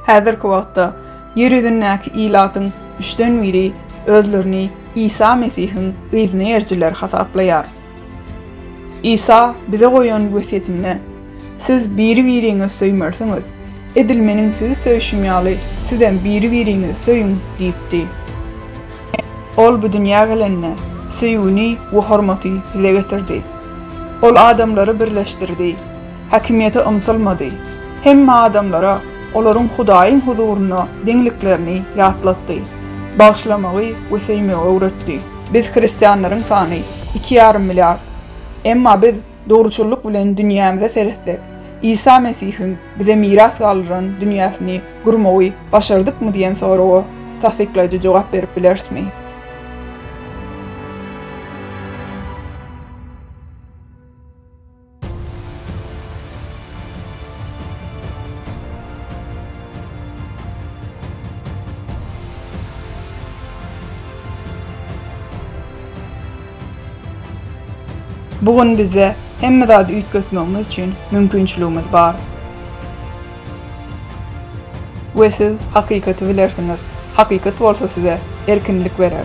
Häzirki wagtda ýer ýüzündäki ilatyň üçden biri özlerini Isa Mesihiň yzny ýerjileri hasaplaýar. Isa bize goýan wesýetinde, Siz biri-biriňizi söýmersiňiz, edil Meniň sizi söýşüm ýaly, sizem biri-biriňizi söýüň diýipdi. Ol bu dünýä gelende, söýgini we hormaty bize getirdi. Ol adamlary birleşdirdi. Häkimiýete ymtylmady. Hemme adamlara olaryň Hudaýyň huzurynda deňliklerini ýatlatdy. Bagyşlamagy we söýmegi öwretdi. Biz hristianlaryň sany iki ýarym milliard. Emma biz dogruçyllyk bilen dünýämize seretsek, Isa Mesihiň bize miras galdyran dünýäsini gurmagy başardykmy diýen soraga tassyklaýjy jogap berip bilerismi? Bu gün bizde hemme zady üýtgetmegimiz üçin mümkinçiligimiz bar. We siz hakykaty bilersiňiz, hakykat bolsa size erkinlik berer.